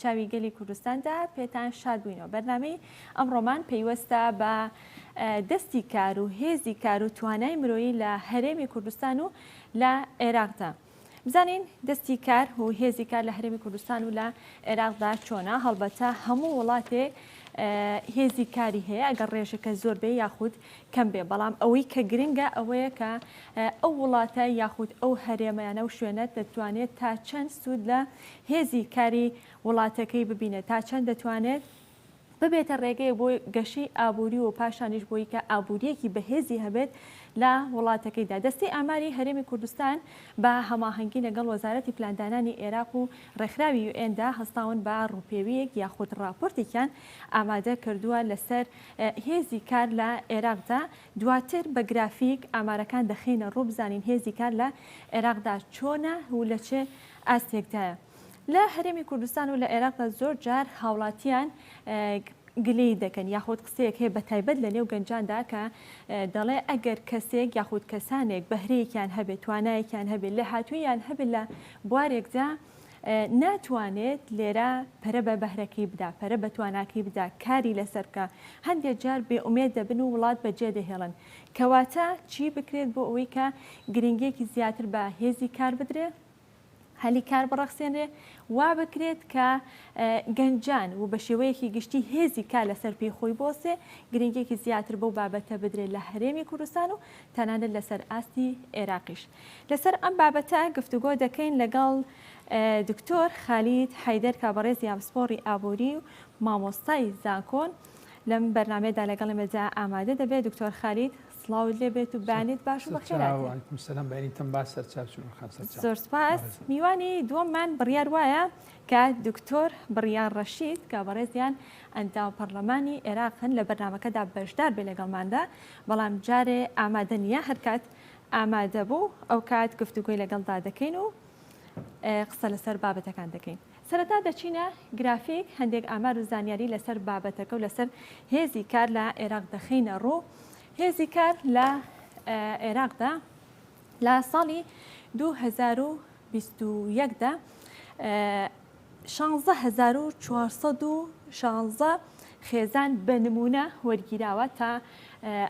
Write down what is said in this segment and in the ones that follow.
چاوی گەلی کوردستاندا پێتان شاد بووینەوە بەرنامەی ئەمڕۆمان پەیوەستە بە دەستی کار و هێزی کار و توانای مرۆیی لە هەرێمی کوردستان و لە عێراقدا بزانین دەستی کار و هێزی کار لە هەرێمی کوردستان و لە عێراقدا چۆنا هەڵبەتە هەموو وڵاتێ هێزی کاری هەیە ئەگەر ڕێژەکە زۆر بێ یاخود کەم بێ بەڵام ئەوەی کە گرنگە ئەوەیە کە ئەو وڵاتە یاخود ئەو هەرێمەیانە و شوێنە دەتوانێت تا چەند سوود لە هێزی کاری وڵاتەکەی ببینێت تا چەند دەتوانێت ببێتە ڕێگەیە بۆ گەشەی ئابووری و پاشانیش بۆی کە ئابووریەکی بەهێزی هەبێت لە وڵاتەکەیدا دەستەی ئاماری هەرێمی کوردستان بە هەماهەنگی لەگەڵ وەزارەتی پلاندانانی ئێراق و ڕێکخراوی یو ئێن دا هەستاون بە ڕووپێویەک یاخود ڕاپۆرتێکیان ئامادە کردووە لەسەر هێزی کار لە ئێراقدا دواتر بە گرافیک ئامارەکان دەخەینە ڕوو بزانین هێزی کار لە عێراقدا چۆنە و لە چ ئاستێکدایە. لە هەرێمی کوردستان و لە عێراقدا زۆر جار هاوڵاتیان گلەیی دەکەن یاخود قسەیەک هەیە بە تایبەت لە نێو گەنجاندا کە دەڵێ ئەگەر کەسێک یاخود کەسانێک بەهرەیەکیان هەبێ، توانایەکیان هەبێ، لێهاتووییان هەبێ لە بوارێکدا، ناتوانێت لێرە پەرە بە بەهرەکەی بدا، پەرە بە تواناکەی بدا، کاری لەسەر بکا. هەندێک جار بێ ئومێد دەبن و وڵات بەجێ دەهێڵن. کەواتە چی بکرێت بۆ ئەوەی کە گرنگییەکی زیاتر بە هێزی کار بدرێ، هەلی کار بڕەخسێنرێ، وا بکرێت کە گەنجان و بە شێوەیەکی گشتی هێزی کار لەسەر پێی خۆی بوەستێ، گرنگییەکی زیاتر بەو بابەتە بدرێت لە هەرێمی کوردستان و تەنانەت لەسەر ئاستی ئێراقیش. لەسەر ئەم بابەتە گفتوگۆ دەکەین لەگەڵ دکتۆر خالید حەیدەر کە بەڕێزی هاوپسپۆڕی ئابووری و مامۆستای زانکۆن لەم بەرنامەیەدا لەگەڵ ئێمەدا ئامادە دەبێت دکتۆر خالید سڵاوت لێ بێت و بانێت باش و زۆر سپاس میوانی دووەممان بڕیار وایە کە دکتۆر بڕیان ڕەشید کە بەڕێزیان ئەنداو پەرلەمانی عێراقن لە بەرنمەکەدا بەشدار بێ لەگەڵماندا بەڵام جارێ ئامادە نیە هەرکات ئامادەبوو ئەوکات گفتوگۆی لەگەڵدا دەکەین و قسە لەسەر بابەتەکان دەکەین سەرەتا دەچینە گرافیک هەندێک ئامار و زانیاری لەسەر بابەتەکە و لەسەر هێزی کار لە عێراق دەخینە ڕوو هێزی کار لە عێراقدا لە ساڵی 2021دا شانزە هەزار و چوار سەد و شانزە خێزان بە نموونە وەرگیراوە تا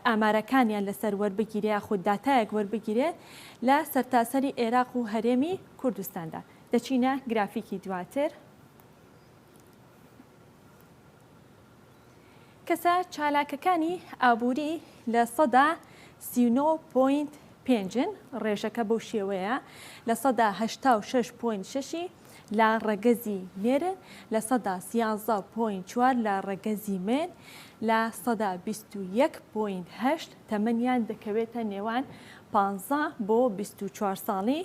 ئامارەکانیان لەسەر وەربگیرێ یاخود داتایەک وەربگیرێ لە سەرتاسەری ئێراق و هەرێمی کوردستاندا دەچینە گرافیکی دواتر. کەسە چالاکەکانی ئابووری لە سەدا سی و نۆ پۆینت پێنجن، ڕێژەکە بەو شێوەیە لە سەدا هەشتا و شەش پۆینت شەشی لە ڕەگەزی نێرن، لە سەدا سیانزە پۆینت چوار لە ڕەگەزی مێن، لە سەدا بیست و یەک پۆینت هەشت تەمەنیان دەکەوێتە نێوان پانزە بۆ بیست و چوار ساڵی،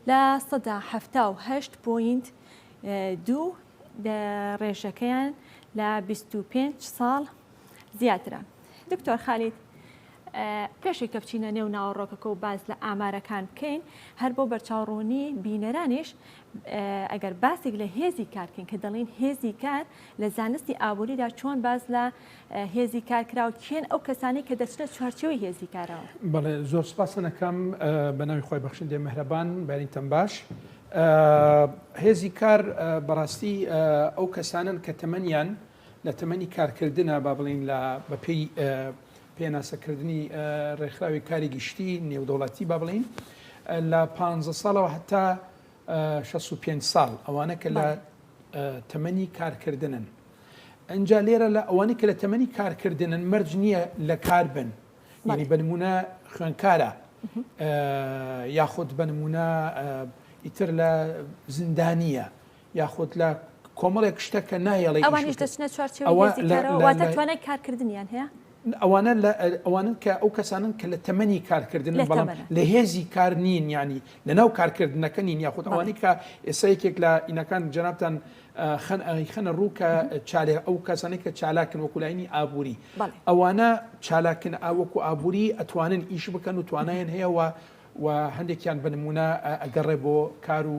لە سەدا حەفتا و هەشت پۆینت دوو ڕێژەکەیان لە 25 ساڵ زیاترە دکتۆر خالید پێشی کە بچینە نێو ناوەڕۆکەکە و باز لە ئامارەکان بکەین هەر بۆ بەرچاوڕوونی بینەرانیش ئەگەر باسێک لە هێزی کارکەین کە دەڵین هێزی کار لە زانستی ئابووریدا چۆن باز لە هێزی کار کراوە کێن ئەو کەسانەی کە دەچنە چوارچێوەی هێزی کارەوە؟ بەڵێ زۆر سپاستان ئەکەم بە ناوی خۆی بەخشندەی مەهرەبان بەریتەم باش هێزی کار بەڕاستی ئەو کەسانن کە تەمەنیان لە تەمەنی کارکردە با بڵین لە بەپی پێناسەکردنی ڕێکخراوی کاری گشتی نێودەوڵەتی با بڵین لە پ ساڵەوە هەتا 65 ساڵ ئەوانە کە لە تەمەنی کارکردنن ئینجا لێرە لە ئەوانەی کە لە تەمەنی کارکردنن مەرج نییە لە کار بن یعنی بە نمونە خوێنکارە یاخود بە نمونە ئیتر لە زیندانیە یاخود لە کۆمەڵێک شتە کە نایەڵێ ئەوانیش دەچنە چوارچێوە لە- واتە توانای کارکردنیان هەیە ئەوانە لە ئەوانن کە ئەو کەسانن کە لە تەمەنی کارکردنن بەڵام لە هێزی کار نین ینی لەناو کارکردنەکە نین یاخود ئەوانەی کە ئێستا یەکێک لە ئینەکان جەنابان خەنە ڕوو کە چالێ ئەو کەسانی کە چالاکن وەکولاینی ئابووری ئەوانە چالاکن ئاوەکو ئابووری ئەتوانن ئیش بکەن و توانایان هەیەەوە و هەندێکیان بنمونە ئەگەڕێ بۆ کار و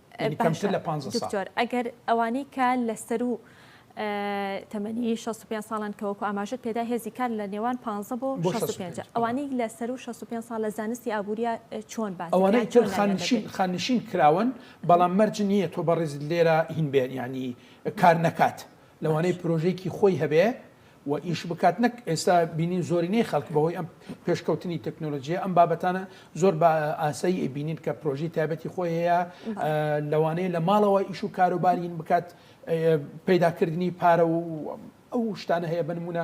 یانی کەمتر لە پانزە ساڵ. دکتۆر ئەگەر ئەوانەی کە لە سەرو تەمەنی شەست و پێنج ساڵن کە وەکو ئاماژەت پێدا هێزی کار لە نێوان پانزە بۆ شەست و پێنج ئەوانەی لە سەرو شەست و پێنج ساڵ لە زانستی ئابورییا چۆن باسکران چۆن ناویان دەبرێت؟ ئەوانەی تر خاننشین خاننشین کراون بەڵام مەرج نیە تۆ بەڕێزت لێرە هین بێت یانی کار نەکات لەوانەیە پرۆژەیەکی خۆی هەبێ و ئیش بکات نەک ئێستا بینین زۆرینەی خەڵک بەهۆی ئەم پێشکەوتنی تەکنۆلۆژیە ئەم بابەتانە زۆر بە ئاسایی ئەبینین کە پرۆژی تایبەتی خۆی هەیە لەوانەیە لە ماڵەوە ئیش و کاروبارین بکات پەیداکردنی پارە و ئەو شتانە هەیە بنمونە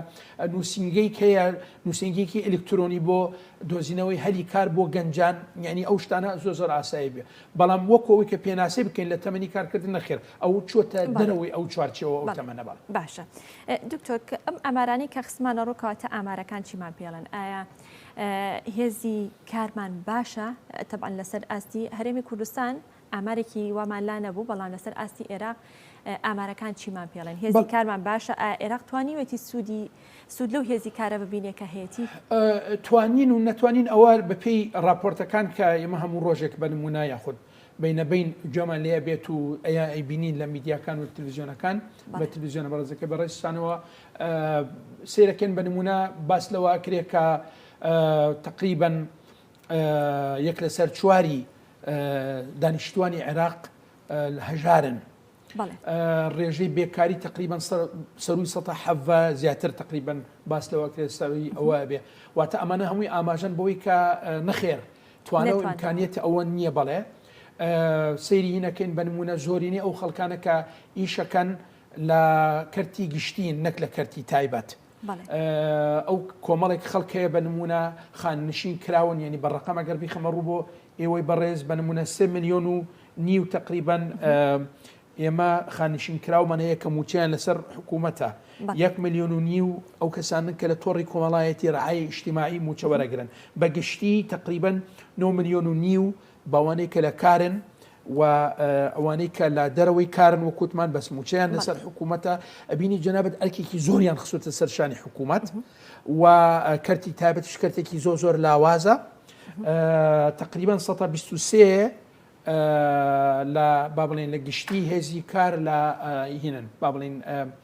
نووسنگەی هەیە نووسنگێکی ئەلکترۆنی بۆ دۆزینەوەی هەلی کار بۆ گەنجان یعنی ئەو شتانە زۆ زۆر ئاسایی بێ بەڵام وەکو ئەوەی کە پێناسەی بکەین لە تەمەنی کارکردن نەخێر ئەو چۆتە دەرەوەی ئەو چوارچێوە ئەو تەمەنە بەڵێ. باشە دکتۆر ئەم ئامارانەی کە خستمانە ڕوو کەواتە ئامارەکان چیمان پێڵێن ئایا هێزی کارمان باشە تەبان لەسەر ئاستی هەرێمی کوردستان ئامارێکی وامان لا نەبوو بەڵام لەسەر ئاستی عێراق ئامارەکان چیمان پێڵێن هێزی کارمان باشە ئێراق توانیوێتی سوودی سود لەو هێزی کارە ببینێ کە هەیەتی؟ توانین و نەتوانین ئەوە بە پێی ڕاپۆرتەکان کە ئێمە هەموو ڕۆژێک بە نموونە یاخود بینە بین گوێمان لێ ئەبێت و ئەیبینین لە میدیاکان و تلویزیۆنەکان بە تلویزیۆنە بەڕێزەکە بە ڕێزتانەوە سیرەکەن بە نموونە باس لەوە ئەکرێ کە تقریبن یەک لەسەر چواری دانیشتوانی عێراق هەژارن ڕێژەی بێکاری تقریبان سەروی سە حەڤ زیاتر تقریبان باس لەوە کرێت سەروی ئەوە بێ واتە ئەمانە هەمووی ئاماژەن بۆی کە نەخێر توانە و ئەمکانیەتی ئەوە نییە بەڵێ سەیری هینەکەین بنمونە زۆرینەی ئەو خەڵکانە کە ئیشەکەن لە کەرتی گشتین نەک لە کەرتی تایبەت. ئەو کۆمەڵێک خەڵک هەیە بە نموونە خاننشین کراون یعنی بە ڕقەم ئەگەر بیخەمە ڕوو بۆ ئێوەی بەڕێز بە نمونە سێ ملیۆن و نیو تقریبەن ئێمە خانشین کراومانە یەکە موچیان لەسەر حکوومەتە یەک میلیۆن و نیو ئەو کەسانن کە لە تۆڕی کۆمەڵایەتی ڕعاە ئیشتیماعی موچەوەرەگرن بە گشتی تقریبن 9 میلیۆن و نیو بەوانەی کە لە کارن و ئەوانەی کە لە دەرەوەی کارن وەکوتمان بەس موچەیان لەسەر حکوومەتە ئەبینی جەنابەت ئەرکێکی زۆریان خسوتە سەر شانی حکوومەت و کەرتی تابەت شکرتێکی زۆ زۆر لاوازە تقریبان 123 لە با بڵێن لە گشتی هێزی کار لە هینن با بڵین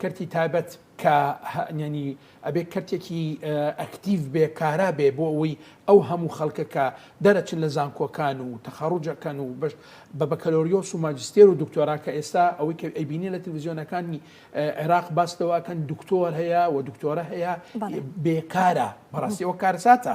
کەرتی تایبەت کە یەنی ئەبێ کەرتێکی ئەکتیڤ بێ کارا بێ بۆ ئەوەی ئەو هەموو خەڵکە کە دەرەچن لە زانکۆکان و تەخەڕوجەکەن و بەشت بە بەکەلۆریۆس و ماجستێر و دکتۆرا کە ئێستا ئەوەی کە ئەیبینی لە تلویزیۆنەکانی عێراق باس لەوەکەن دکتۆر هەیە و دکتۆرە هەیە بێکارە بەڕاستیەوە کارساتە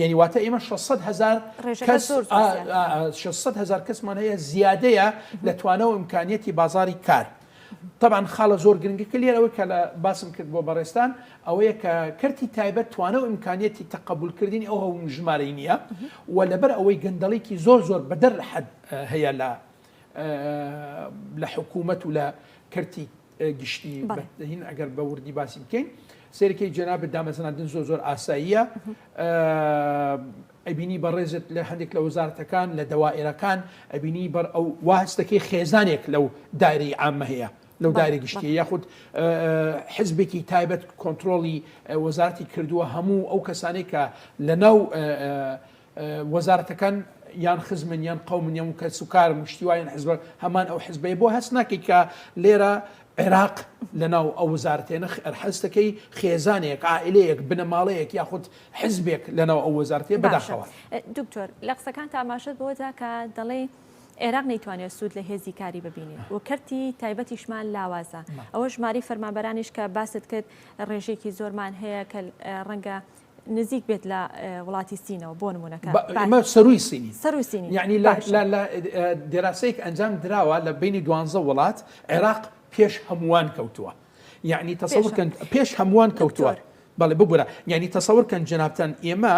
یەنی واتە ئێمە شەش سەد هەزار ڕێژەکە کەس زۆر زۆر ئا زیادە. ئا شەش سەد هەزار کەسمان هەیە زیادەیە لە توانەوە ئیمکانیەتی بازاری کار تەبان خاڵە زۆر گرنگەکە لێرە ئەوەی کە لە باسم کرد بۆ بەڕێزتان ئەوەیە کە کەرتی تایبەت توانە و ئیمکانیەتی تەقەبول کردنی ئەو هەوم ژمارەی نییە و لەبەر ئەوەی گەندەڵیکی زۆر زۆر بەدەر لە حەد هەیە لە لە حکوومەت و لە کەرتی گشتی بەین ئەگەر بە وردی باسی بکەین سێرکەی جەنابەت دامەزراندن زۆ زۆر ئاساییە ئەبینی بەڕێزت لە هەندێک لە وەزارەتەکان لە دەوائێرەکان ئەبینی بەر ئەو واستەکەی خێزانێک لەو داری ئامە هەیە لەو داری گشتی یاخود حزبێکی تایبەت کۆنتترۆلی وەزارتی کردووە هەموو ئەو کەسانێک کە لە ناو وەزارەتەکان یان خزمن یان قەومن یان و کەس و کارن و شتی وایان حزبە هەمان ئەو حزبەیە بۆ هەست ناکەیت کە لێرە عێراق لە ناو ئەو وەزارەتێ نەخ ئەرحەستەکەی خێزانێک عائلەیەک بنەماڵەیەک یاخود حزبێک لە ناو ئەو وەزارتێ بەداخەوە دکتۆر لە قسەکان تا ئاماژەت بۆدا کە دەڵێ عێراق نەیتوانێت سوود لە هێزی کاری ببینی و کەرتی تایبەتیشمان لاوازە ئەوە ژماری فەرمانبەرانیش کە باست کرد ڕێژێکی زۆرمان هەیە کە ڕەنگە نزیک بێت لە وڵاتی سینەوە بۆ نمونە کە بە ئێمە سەرووی سینین سەرووی سینین یعنی لە باشە. لە لە ئێ، دێراسەیەک ئەنجام دراوە لە بەینی دوانزە وڵات عێراق پێش هەمووان کەوتووە یعنی پێش تەسەور هەم کەن پێش هەمووان کەوتووە دکتۆر بەڵێ ببورە یعنی تەسەور کەن جەنابتان ئێمە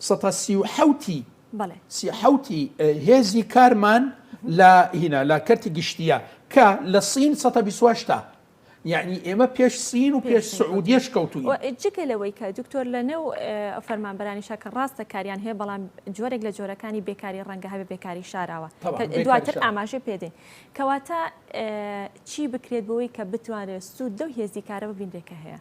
سەتا سی و حەوتی بەڵێ سی حەوتی ئێ هێزی کارمان لە هینا لە کەرتی گشتییە کە لە سین سەتا بیست و هەشتا یەعنی ئێمە پێش سین و پێش سعودیەش کەوتوین. جگە لەوەی کە دکتۆر لە نێو فەرمانبەرانیشا کە ڕاستە کاریان هەیە بەڵام جۆرێک لە جۆرەکانی بێکاری ڕەنگە هەبێ بێکاری شاراوە دواتر ئاماژەی پێدەین کەواتە چی بکرێت بۆی کە بتوانرێت سوود لەو هێزی کارە ببینرێت کە هەیە.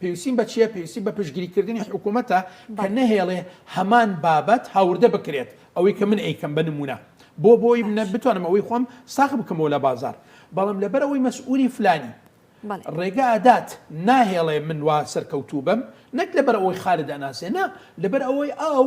پێویستیم بە چییە؟ پێویستیم بە پشتگیریکردنی حکوومەتە کە نەهێڵێ هەمان بابەت هاوردە بکرێت، ئەوەی کە من ئەیکەم بە نموونە. بۆ؟ بۆ ئەوەی من بتوانم ئەوەی خۆم ساغ بکەمەوە لە بازاڕ. بەڵام لەبەر ئەوەی مەسئوولی فلانی ڕێگا ئەدات، ناهێڵێ من وا سەرکەوتوو بم، نەک لەبەر ئەوەی خالد ئەناسێ، نا، لەبەر ئەوەی ئاو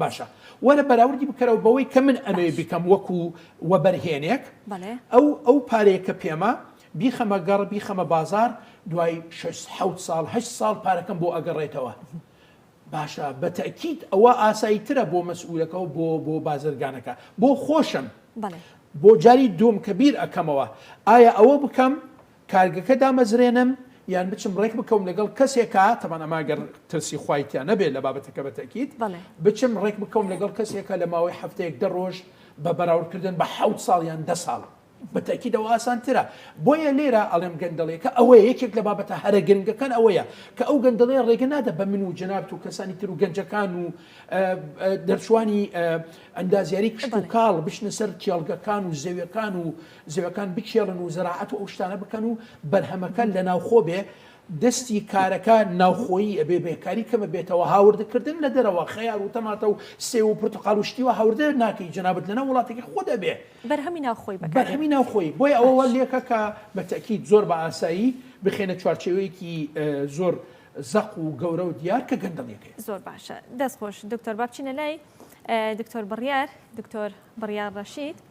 باشە وەرە بەراوردی بکەرەوە بەوەی کە من ئەمەوێ باش بیکەم وەکو وەبەرهێنێک بەڵێ ئەو ئەو پارەیە کە پێمە بیخەمە گەڕ بیخەمە بازار دوای شەش حەوت ساڵ هەشت ساڵ پارەکەم بۆ ئەگەڕێتەوە باشە بە تەئکید ئەوە ئاسایی ترە بۆ مەسئولەکە و بۆ بۆ بازرگانەکە بۆ خۆشم بەڵێ. بۆ جاری دووم کە بیر ئەکەمەوە ئایا ئەوە بکەم کارگەکە دامەزرێنم یان بچم ڕێک بکەوم لەگەڵ کەسێکا تەبان ئەمە گەر ترسی خوای تیا نەبێت لە بابەتەکە بە تەکیت بچم ڕێک بکەوم لەگەڵ کەسێکە لە ماوەی هەفتەیەک دە ڕۆژ بە بەراوردکردن بە حەوت ساڵ یان دە ساڵ بە تەکید ئەوە ئاسانترە بۆیە لێرە ئەڵێم گەندەڵیەکە ئەوەیە یەکێک لە بابەتە هەرە گرنگەکان ئەوەیە کە ئەو گەندەڵەیە ڕێگە نادە بە من و جەنابت و کەسانی تر و گەنجەکان و دەرچوانی ئەندازیاری کشت و کاڵ بچنە سەر کێڵگەکان و زەویەکان و زێوەکان بکێڵن و زەراعەت و ئەو شتانە بکەن و بەرهەمەکە لە ناوخۆ بێ، دەستی کارەکە ناوخۆیی ئەبێ بێکاری کەمە بێتەوە، هاوردە کردن لە دەرەوە خەیار و تەماتە و سێو و پرتەقاڵ و شتی وا هاوردە ناکەی جەنابت لەناو وڵاتەکەی خۆت ئەبێ بەرهەمی ناوخۆی بەکار بێ بەرهەمی ناوخۆیی بۆیە ئەوە وا باش. لێکە کە بە تەئکید زۆر بە ئاسایی بخەینە چوارچێوەیەکی زۆر زەق و گەورە و دیار کە گەندەڵیەک هەیە. زۆر باشە دەست خۆش دکتۆر با بچینە لای دکتۆر بڕیار دکتۆر بڕیار ڕەشید.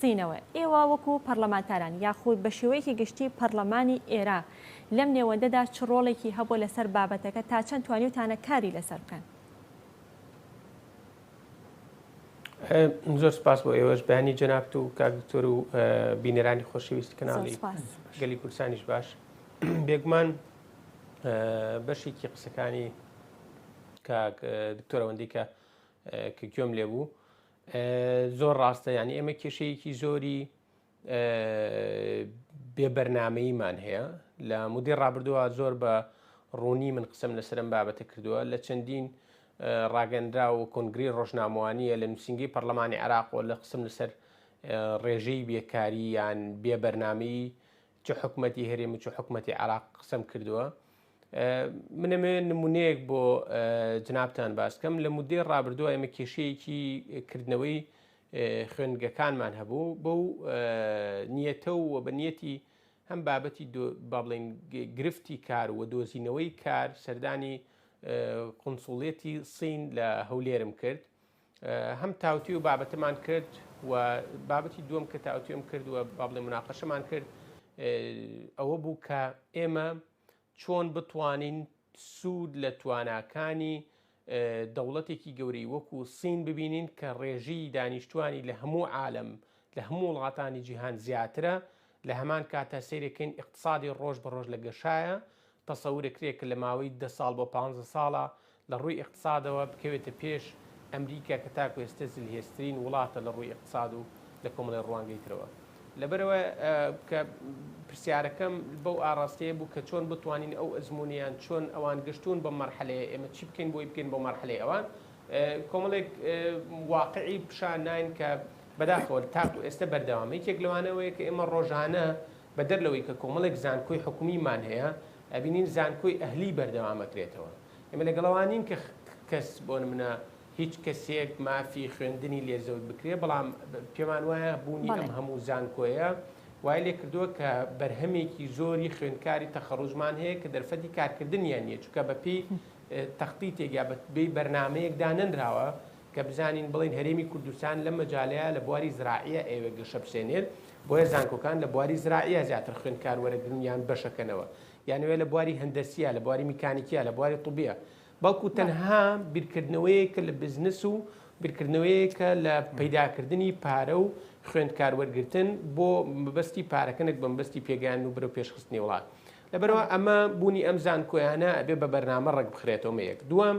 سینەوە، ئێوە وەکو پەڕلەمانتاران یاخود بە شێوەیەکی گشتی پەڕلەمانی ئێرا لەم نێوەندەدا چ ڕۆڵێکی هەبووە لەسەر بابەتەکە تا چەند توانیوتانە کاری لەسەر بکەن؟ زۆر سپاس بۆ ئێوەش بەیانی جەنابت و کاک دکتۆر و بینەرانی خۆشەویستی کەناڵی گەلی کوردستانیش باش بێگومان بەشێکی قسەکانی کاک دکتۆرەوەندی کە کە گوێم لێ بوو زۆر ڕاستە یانی ئێمە کێشەیەکی زۆری بێ بەرنمەیمان هەیە لە مدی ڕابردووە زۆر بە ڕوونی من قسم لە سرم بابەتە کردووە لە چەندین ڕاگەنرا و کنگری ڕۆژنامەوانیە لە نووسنگی پەرلەمانی عراق و لە قسم لەسەر ڕێژەی بێکاری یان بێ بەرنمەی چ حکومەتی هەرێم و چ حکومەتی عێراق قسەم کردووە منەمێ نمونەیەک بۆ جنابتان باس کەم لە مدەی ڕابردووە ئێمە کێشەیەکی کردنەوەی خوێندگەکانمان هەبوو بەو نیەتە و بە نیەتی هەم بابەتی با بڵین گرفتی کار و دۆزینەوەی کار سەردانی قنسوڵێتی سین لە هەولێرم کرد هەم تاوتوێ و بابەتمان کرد و بابەتی دووەم کە تاوتوێم کرد و با بڵێ مناقەشەمان کرد ئەوە بوو کە ئێمە چۆن بتوانین سوود لە تواناکانی دەوڵەتێکی گەورەی وەکو سین ببینین کە ڕێژی دانیشتوانی لە هەموو عالم لە هەموو وڵاتانی جیهان زیاترە لە هەمان کاتە سیرەکەین اقتصادی ڕۆژ بە ڕۆژ لە گەشایە تەسەورەکرێ کە لە ماوەی دە ساڵ بۆ پانزە ساڵا لە ڕووی ئیقتسادەوە بکەوێتە پێش ئەمریکا کە تاکو ئێستە زلهێزترین وڵاتە لە ڕووی ئیقتساد و لە کۆمەڵی ڕوانگەی ترەوە. لەبەرئەوە کە پرسیارەکەم بەو ئاڕاستەیە بوو کە چۆن بتوانین ئەو ئەزموونەیان چۆن ئەوان گەشتوون بەم مەرحەلەیە ئێمە چی بکەین بۆی بگەین بۆ مەرحەلەی ئەوان؟ کۆمەڵێک واقعی پیشان ناین کە بەداخەوە تاکو ئێستە بەردەوامە. یەکێک لەوانە ئەوەیە کە ئێمە ڕۆژانە بەدەر لەوەی کە کۆمەڵێک زانکۆی حکومیمان هەیە، ئەبینین زانکۆی ئەهلی بەردەوام ئەکرێتەوە. ئێمە لەگەڵ ئەوە نین کە کەس بۆ نمونە هیچ کەسێک مافی خوێندنی لێ زەوت بکرێ، بەڵام پێمان وایە بوونی ئەم هەموو زانکۆیە وای لێ کردووە کە بەرهەمێکی زۆری خوێندکاری تەخەڕووجمان هەیە کە دەرفەتی کارکردنیان نییە، چونکە بەپێی تەختیتێک یا بەپێی بەرنامەیەک دانەنراوە کە بزانین بڵێین هەرێمی کوردستان لەم مەجالەیا لە بواری زراعیە ئەیەوێ گەشە بسێنێت بۆیە زانکۆکان لە بواری زراعیە زیاتر خوێندکار وەرەگرن یان بەشەکەنەوە یانەوێ لە بواری هەندەسیە لە بواری میکانیکیە لە بواری طبیە بەڵکو تەنها بیرکردنەوەیە کە لە بزنس و بیرکردنەوەیە کە لە پەیداکردنی پارە و خوێندکار وەرگتن بۆ مەبەستی پارەکەنێک بەمبستی پێگەیان و برە پێشخستنی وڵات لەبەرەوە ئەمە بوونی ئەم زانکۆیانە ئەبێ بە بەرنامە ڕێک بخرێتەوە مەیەک دووەم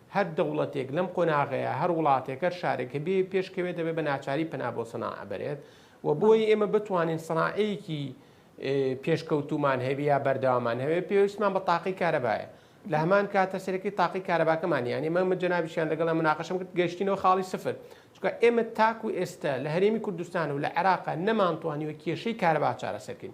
هەر دەوڵەتێک لەم قۆناغەیا، هەر وڵاتێک، هەر شارێک کە بێ پێش کەوێت دەبێت بە ناچاری پەنا بۆ سەناعە بەرێت و بۆی بەڵێ. ئێمە بتوانین سەناعەیەکی پێشکەوتوومان هەبێ یا بەردەوامان هەبێت پێویستمان بە تاقی کارەبایە. لە هەمان کاتە سەرەکی تاقی کارەباکەمان یان ئێمە من جەنابیشیان لەگەڵیان مناقەشەم کرد گەیشتینەوە خاڵی سفر چونکە ئێمە تاکو ئێستە لە هەرێمی کوردستان و لە عێراقا نەمانتوانیوە کێشەی کارەبا چارەسەر کەین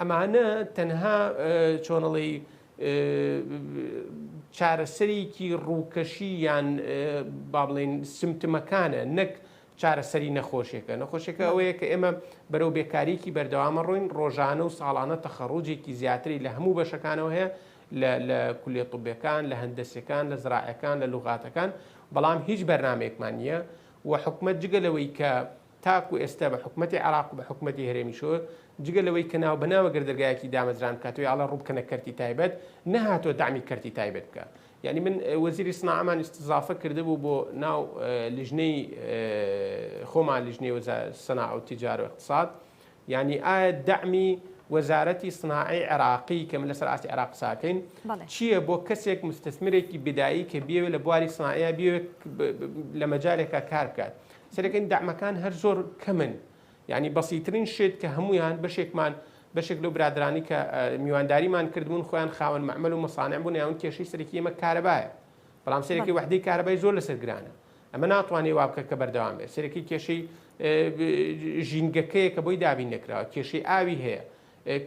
ئەمانە تەنها چۆن ئەڵێی چارەسەرێکی ڕووکەشی یان با بڵێین سمتمەکانە نەک چارەسەری نەخۆشێکە نەخۆشێکە ئەوەیە کە ئێمە بەرەو بێکاریکی بەردەوامە ڕوین ڕۆژانە و ساڵانە تەخەڕۆجێکی زیاتری لە هەموو بەشەکانەوە هەیە لە کولێ طبەکان لە هەندەسەکان لە زراعەکان لە لوغاتەکان بەڵام هیچ بەرنمەیەکمان نییە و حکومت جگە لەوەی کە تاکو ئێستا بە حکومەتی عێراق و بە حکومەتی هەرێمی شۆر جگە لەوەی کە ناو بەناو ئەگەر دەرگایەکی دامەزران بکات و یا ئەڵێ ڕووبکەنە کەرتی تایبەت نەهاتووە دەعمی کەرتی تایبەت بکا یعنی من وەزیری سناعەمان استضافە کردبوو بۆ ناو لیژنەی خۆمان لیژنەی وەزا سەناع و تجار و اقتصاد یعنی ئایا دەعمی وەزارەتی سناعی عێراقی کە من لەسەر ئاستی عێراق ساکەین چییە بۆ کەسێک مستثمرێکی بدایی کە بێوێ لە بواری سناعە بێوێت لە مەجارێکە کار بکات سەرەکەین دەعمەکان هەر زۆر کەمن یانی بەسیترین شت کە هەمویان بەشێکمان بەشێک لەو برادرانی کە میوانداریمان کردبوون خۆیان خاوەن مەعمل و مەسانع بوون یاون کێشەی سەرەکی ئێمە کارەبایە بەڵام سەرەکی وحدەی کارەبای زۆر لەسەر گرانە ئەمە ناتوانێ وا بکە کە بەردەوام بێت سەرەکی کێشەی ژینگەکەیە کە بۆی دابین نەکراوە کێشەی ئاوی هەیە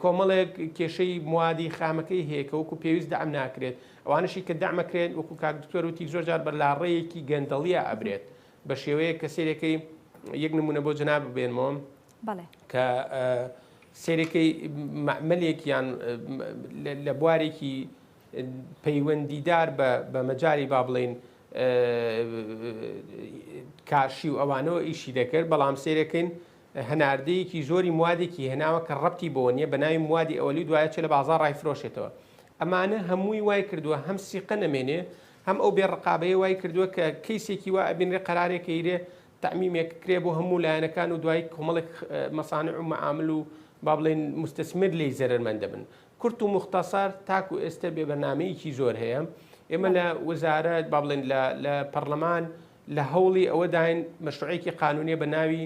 کۆمەڵێک کێشەی موادی خامەکەی هەیە کە وەکو پێویست دام ناکرێت ئەوانشی کە دامەکرێن وەکو کاک دکتۆر وتی زۆر جار بەر لاڕێیەکی گەندەڵیە ئەبرێت بە شێوەیەک کە سێرێکەی یەک نمونە بۆ جناب بێنمەوە کە سێرێکەی مەعملێک یان لە بوارێکی پەیوەندیدار بە مەجاری با بڵین کارشی و ئەوانەوە ئیشی دەکرد بەڵام سێرەکەین هەناردەیەکی زۆری موادێکی هێناوە کە ڕەتی بۆ نییە بە ناوی موادی ئەوەلی دوایە چێ لە بازار ڕایفرۆشێتەوە ئەمانە هەمووی وای کردووە هەم سیقە نەمێنێ هەم ئەو بێ ڕقابەیە وای کردووە کە کەیسێکی وا ئەبینرێ قەرارێک ئەیرێ تەعمیمێک کرێ بۆ هەموو لایەنەکان و دوایی کۆمەڵێک مەسانع و مەعامل و با بڵێین موستەسمر لێی زەرەرمەند دەبن کورت و موختەسەر تاکو ئێستە بێ بەرنامەیەکی زۆر هەیە ئێمە لە وەزارەت با بڵێن لە پەڕلەمان لە هەوڵی ئەوەداین مەشروعێکی قانونێ بە ناوی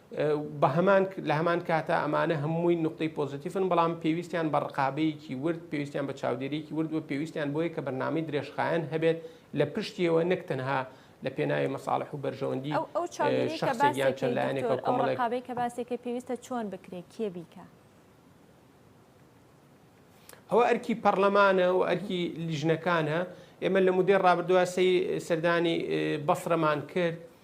بەهەمان لە هەمان کاتا ئەمانە هەمووی نقطەی پۆزیتیفن بەڵام پێویستیان بە ڕقابەیەکی ورد پێویستیان بە چاودێریکی ورد و پێویستیان بۆیە کە بەرنامەی درێژخایەن هەبێت لە پشتیەوە نەک تەنها لە پێناوی مەساڵح و بەرژەوەندی شخصێکیان چەند لایەنێکەوە کۆمەڵێکابێک کە باسێکە پێویستە چۆن بکرێت کێ بیکە ئەوە ئەرکی پەرلەمانە و ئەرکی لیژنەکانە ئێمە لە مدەی ڕابردووە سی سەردانی بەسرەمان کرد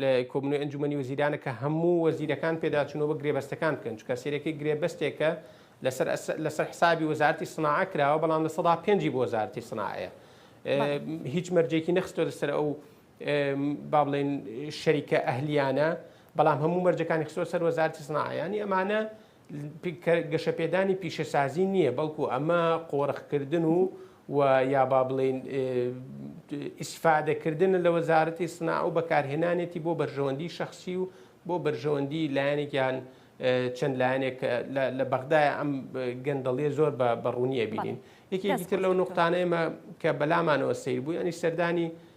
لە کۆبنەوەی ئەنجومەنی وەزیرانە کە هەموو وەزیرەکان پێداچوونەوە بە گرێبەستەکان بکەن، چونکە سەرەکی گرێبەستێکە لەسەر لەسەر حسابی وەزارەتی سناعە کراوە، بەڵام لە سەدا پێنجی بۆ وەزارەتی سناعەیە. هیچ مەرجێکی نەخستۆ لەسەر ئەو با بڵێن شەریکە ئەهلیانە بەڵام هەموو مەرجەکانی خستۆ سەر وەزارتی سناعە ینی ئەمانە گەشەپێدانی پیشەسازی نییە، بەڵکو ئەمە قۆرخکردن و و یا با بڵێین ئیسفادەکردنە لە وەزارەتی سناعە و بەکارهێنانێتی بۆ بەرژەوەندی شخصی و بۆ بەرژەوەندی لایەنێکیان چەند لایەنێک لە بەغدای ئەم گەندەڵیە زۆر بە بەڕوونیە بینین یەکێکی تر لەو نقطانەیمە کە بەلامانەوە سیر بوو ینی سەردانی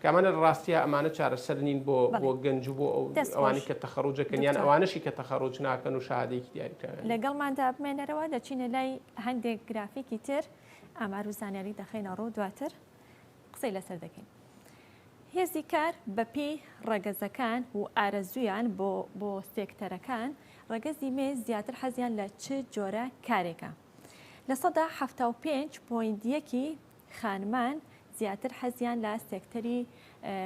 کە ئەمانە ڕاستیە ئەمانە چارەسەر نین بۆ بۆ گەنج و بۆ ئەوانی کە تەخەڕوجەکەن یان ئەوانەشی کە تەخەڕوج ناکەن و شەهادەیەکی دیاریکراویان لەگەڵماندا بمێنەرەوە دەچینە لای هەندێک گرافیکی تر ئامار و زانیاری دەخەینە ڕوو دواتر قسەی لەسەر دەکەین هێزی کار بەپی ڕەگەزەکان و ئارەزویان بۆ بۆ سێکتەرەکان ڕەگەزی مێ زیاتر حەزیان لە چ جۆرە کارێکە لە سەدا ه پێ پۆینت یەکی خانمان زیاتر حەزیان لە سێکتەری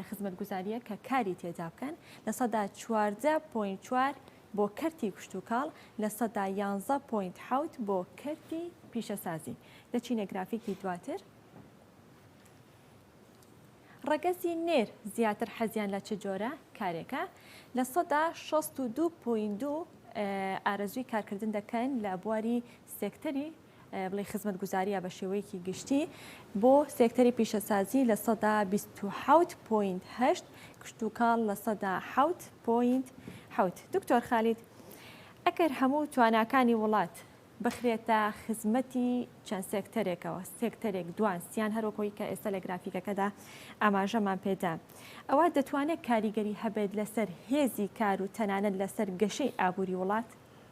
خزمەتگوزاریە کە کاری تێدا بکەن لە سەدا چواردە پوین چوار بۆ کەرتی کشتتوکاڵ لە سەدا یانزە پوینت حوت بۆ کەرتی پیشەسازی لە چینە گرافیکی دواتر ڕەگەزی نێر زیاتر حەزیان لە چ جۆرە کارێکە لە سەدا 16.2 ئارەزوی کارکردن دەکەن لە بواری سێکتەری بڵێی خزمەتگوزارییە بە شێوەیەکی گشتی بۆ سێکتەری پیشەسازی لە سەدا 27.8 کشتوکاڵ لە سەدا 7.7 دکتۆر خالید ئەگەر هەموو تواناکانی وڵات بخرێتە خزمەتی چەند سێکتەرێکەوە سێکتەرێک دوان سیان هەرۆکۆی کە ئێستا لە گرافیکەکەدا ئاماژەمان پێدا ئەوە دەتوانێت کاریگەری هەبێت لەسەر هێزی کار و تەنانەت لەسەر گەشەی ئابووری وڵات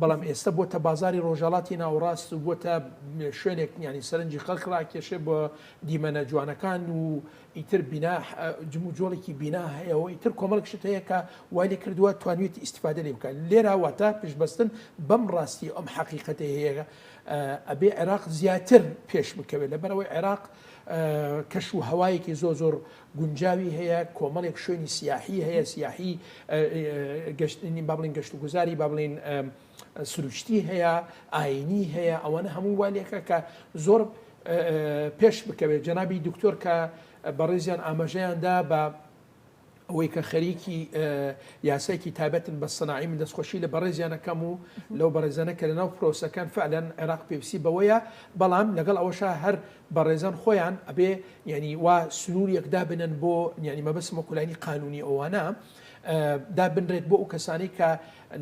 بەڵام ئێستە بۆتە بازاری ڕۆژهەڵاتی ناوەڕاست و بۆتە شوێنێک یانی سەرنجی خەڵک ڕاکێشێ بۆ دیمەنە جوانەکان و ئیتر بینا جموجۆڵێکی بینا هەیەەوە ئیتر کۆمەڵک شت هەیە کە وای لێ کردووە توانوێتی ئیسیفادە لێ بکات لێراواتە پشببستن بەم ڕاستی ئەم حەقیقەتی هەیە ئەبێ عێراق زیاتر پێش بکەوێت لەبەرەوەی عێراق کەش و هەوایەکی زۆ زۆر گونجاوی هەیە کۆمەڵێک شوێنی سیاحی هەیە سیاحی گەشتنی با بڵین گەشت و گوزاری با بڵین سروشتی هەیە ئاینی هەیە ئەوەنە هەمووی والێکە کە زۆر پێش بکەوێت جەنابی دکتۆر کە بەڕێزیان ئاماژەیاندا بە ئەوەی کە خەریکی یاسایکی تابەتن بە سناعی من دەستخۆشی لە بەڕێزیانەکەم و لەو بەڕێزانە کە لەناو پرۆسەکان فعلەن عێراق پێویستی بەوەیە بەڵام لەگەڵ ئەوەشە هەر بەڕێزان خۆیان ئەبێ یانی وا سنووریەک دابنەن بۆ یانی مەبەسم وەکو لانی قانونی ئەوانە دابنرێت بۆ ئەو کەسانی کە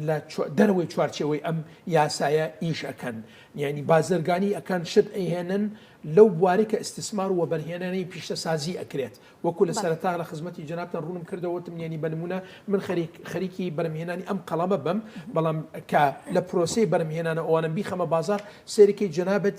لە دەرەوەی چوارچەوەی ئەم یاسایە ئیش ئەەکەن یعنی بازرگانی ئەکان شت ئەهێنن لەو بواری کە ئیسسمار و بەرهێنانی پیشتە سازی ئەکرێت وەکو لە سەرتا لە خزمەتی جنابتان ڕوونم کردەوەتم یانی بنمونە من خەریک خەریکی بەرمهێنانی ئەم قەڵەمە بم بەڵام کە لە پرۆسی بەرمهێنانە ئەوانم بیخەمە بازار سێریکەی جنابەت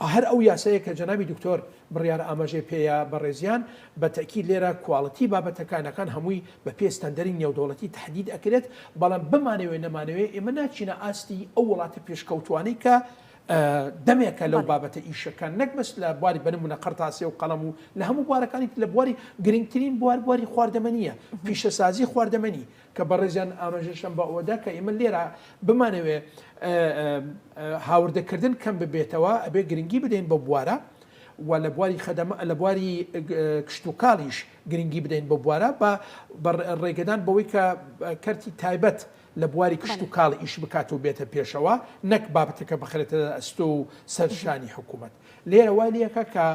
هەر ئەو یاسایە کە جەنابی دکتۆر بڕیارە ئاماژەی پێیە بەڕێزیان، بە تەئکید لێرە کواڵیتی بابەتەکانەکان هەمووی بە پێ ستەندەری نێودەوڵەتی تەحدید ئەکرێت، بەڵام بمانەوێ نەمانەوێ ئێمە ناچینە ئاستی ئەو وڵاتە پێشکەوتوانەی کە دەمێکە لەو بابەتە ئیش ئەکەن، نەک بەس لە بواری بە نمونە قەرتاسێ و قەڵەم و لە هەموو بوارەکانی تر لە بواری گرنگترین بوار بواری خواردەمەنییە، پیشەسازی خواردەمەنی، کە بەڕێزیان ئامژەشیان بە ئەوەدا کە ئێمە لێرە بمانەوێ هاوردەکردن کەم ببێتەوە ئەبێ گرنگی بدەین بە بوارە و لە بواری خەدەمە لە بواری کشتتوکاڵیش گرنگی بدەین بە بوارە بە ڕێگەدان بەوەی کە کەرتی تایبەت لە بواری کشت و کاڵ ئیش بکات و بێتە پێشەوە نەک بابەتەکە بخرێتە ئەستۆ و سەرشانی حکوومەت لێرە وای لەکە کە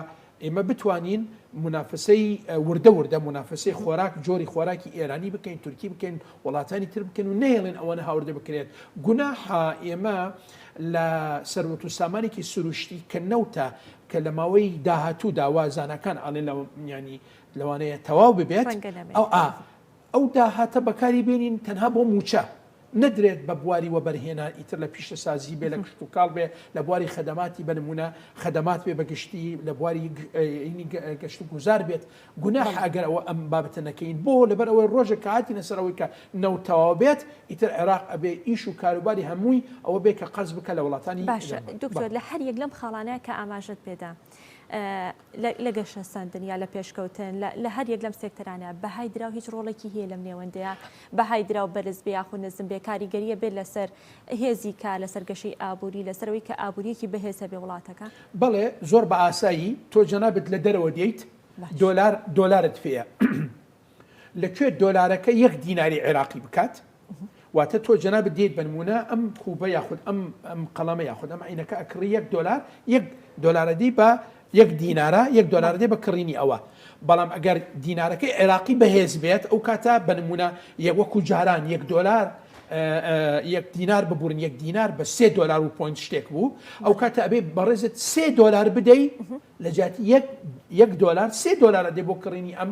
ئێمە بتوانین مونافەسەی وردە وردە مونافەسەی خۆراک جۆری خۆراکی ئێرانی بکەین تورکی بکەین وڵاتانی تر بکەن و نەیڵێن ئەوەنە هاوردە بکرێت گوناحا ئێمە لە سەروەت و سامانێکی سروشتی کە نەوتە کە لە ماوەی داهاتوو داوا زانکان ئەڵێن لە ینی لەوانەیە تەواو ببێت ئەو ئا ئەو داهاتە بەکاری بێنین تەنها بۆ مووچە نەدرێت بە بواری وەبەرهێنان ئیتر لە پیشەسازی بێ لە کشتوکاڵ بێ لە بواری خەدەماتی بە نموونە خەدەمات بێ بە گشتی لە بواری گەشت و گوزار بێت گوناحە ئەگەر ئەوە ئەم بابەتە نەکەین بۆ لەبەر ئەوەی ڕۆژێک کە هاتینە سەر ئەوەی کە نەوت تەواو بێت ئیتر عێراق ئەبێ ئیش و کاروباری هەمووی ئەوە بێ کە قەرز بکە لە وڵاتانی باشە دکتۆر لە هەر یەک لەم خاڵانە کە ئاماژەت پێدا لە گەشەسەندن یا لە پێشکەوتن لە هەر یەک لەم سێکتەرانە، بەهای دراو هیچ ڕۆڵێکی هەیە لەم نێوەندەیە؟ بەهای دراو بەرز بێ یاخود نزم بێ، کاریگەرییە بێت لەسەر هێزی کار، لەسەر گەشەی ئابووری، لەسەر ئەوەی کە ئابوورییەکی بەهێز هەبێ وڵاتەکە؟ بەڵێ، زۆر بە ئاسایی، تۆ جەنابت لە دەرەوە دێیت، دۆلار، دۆلارت پێیە. لە کوێ دۆلارەکە یەک دیناری عێراقی بکات واتە تۆ جەنابت دێیت بەنمونە ئەم کوبە یاخود ئەم ئەم قەڵەمە یاخود ئەم عینەکە ئەکڕی یەک دۆلار یەک دۆلارەدی بە یەک دینارە یەک دۆلاردێ بە کڕینی ئەوە بەڵام ئەگەر دینارەکەی عێراقی بەهێز بێت ئەو کاتە بەنمونە یەک وەکو جاران یەک دۆلار یەک دینار ببورن یەک دینار بە سێ دۆلار و پوین شتێک بوو ئەو کاتە ئەبێ بەڕێزت سێ دۆلار بدەی لە جاتی یەک دۆلار سێ دۆلارە دێ بۆ کڕینی ئەم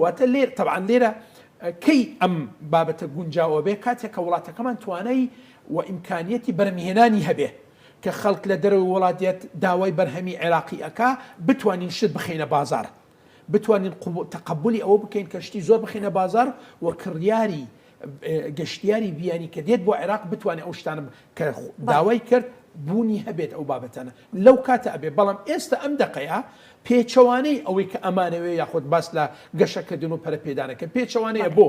واتە لێرە، تەبعەن لێرە کەی ئەم بابەتە گونجاو ئەبێ، کاتێک کە وڵاتەکەمان توانای و ئیمکانیەتی بەرهەمهێنانی هەبێ، کە خەڵک لە دەرەوەی وڵات دێت داوای بەرهەمی عێراقی ئەکا، بتوانین شت بخەینە بازاڕ، بتوانین تەقەبولی ئەوە بکەین کە شتی زۆر بخەینە بازاڕ و کڕیاری گەشتیاری بیانی کە دێت بۆ عێراق بتوانێت ئەو شتانە کە داوای کرد بوونی هەبێت ئەو بابەتەنە لەو کاتە ئەبێ بەڵام ئێستا ئەم دقەیە پێچەوانەی ئەوەی کە ئەمانەوێ یاخود باس لە گەشەکردن و پەرپێدانەکە پێچەوانەیە بۆ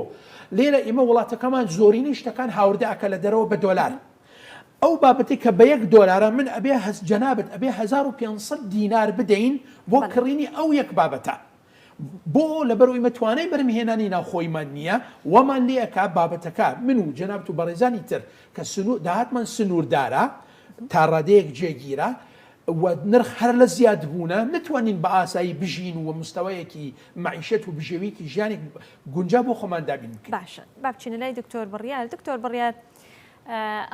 لێرە ئێمە وڵاتەکەمان زۆرینەی شتەکان هاوردەکە لە دەرەوە بە دۆلار. ئەو بابەتی کە بە یەک دۆلارە من ئەبێ هەست جەنابەت ئەبێ 1500 دینار بدەین بۆ کڕینی ئەو یەک بابەتە. بۆ لەبەرئەوەی مە توانای بەرم هێنانی ناوخۆیمان نیە وامان لێ ئەکا بابەتەکە من و جەنابت و بەڕێزانی تر کە سنور داهاتمان سنوردارە تا ڕادەیەک جێگیرە و نرخ هەر لە زیاد بوونە نەتوانین بە ئاسایی بژین و مستەوایەکی مەعیشەت و بژێویکی ژیانێک گونجا بۆ خۆمان دابین بکەین. باشە با بچینە لای دکتۆر بڕیار دکتۆر بڕیار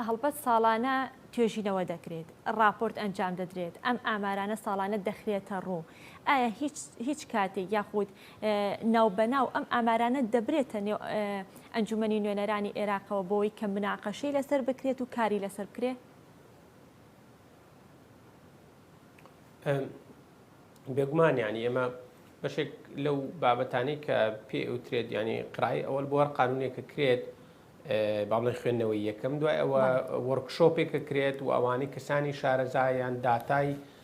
هەڵبەت ساڵانە توێژینەوە دەکرێت ڕاپۆرت ئەنجام دەدرێت ئەم ئامارانە ساڵانە دەخرێتە ڕوو، ئایا هیچ هیچ کاتێک یاخود ناو بەناو ئەم ئامارانە دەبرێتە نێو ئەنجومەنی نوێنەرانی ئێراقەوە بۆی کە مناقەشەی لەسەر بکرێت و کاری لەسەر بکرێت؟ بێگومان ینی ئێمە بەشێک لەو بابەتانی کە پێ ئەوترێت ینی قڕای ئەوەل بۆ هەر قانونێکە کرێت باڵی خوێندنەوەی یەکەم دوای ئەوە وەرکشۆپێکە کرێت و ئەوانەی کەسانی شارەزایان داتای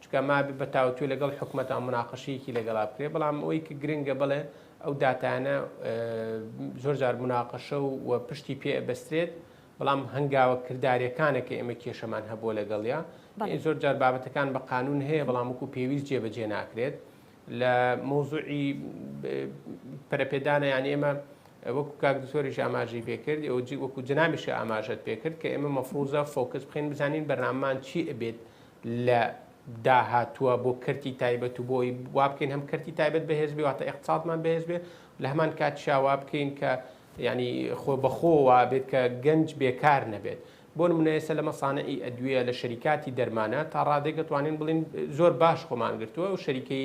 چونکە مابێ بە تاوتوێ لەگەڵ حکومەتا مناقەشەیەکی لەگەڵا بکرێت بەڵام ئەوەی کە گرنگە بڵێ ئەو داتانە زۆر جار مناقەشە و پشتی پێ بەسترێت بەڵام هەنگاوە کردارەکانە کە ئێمە کێشەمان هەبووە لەگەڵیا زۆر جار بابەتەکان بە قانون هەیە بەڵام وکو پێویست جێبەجێ ناکرێت لە مۆزوعی پەرپێدانە یان ئێمە وەکو کاک دکتۆریش ئاماژەی پێکرد ئەو وەکو جنامیشە ئاماژەت پێکرد کە ئێمە مەفروزە فۆکس بخین بزانین بەرنامان چی ئەبێت لە داهاتووە بۆ کەرتی تایبەت و بۆ ئەوەی وا بکەین هەم کەرتی تایبەت بەهێز بێ واتە ئێقتسادمان بەهێز بێ لە هەمان کاتیشا وا بکەین کە یعنی خۆ بەخۆ وا بێت کە گەنج بێکار نەبێت بۆ نمونە ئێستا لە مەسانعی ئەدویە لە شەریکاتی دەرمانە تا ڕادێک دەتوانین بڵێین زۆر باش خۆمان گرتووە و شەریکەی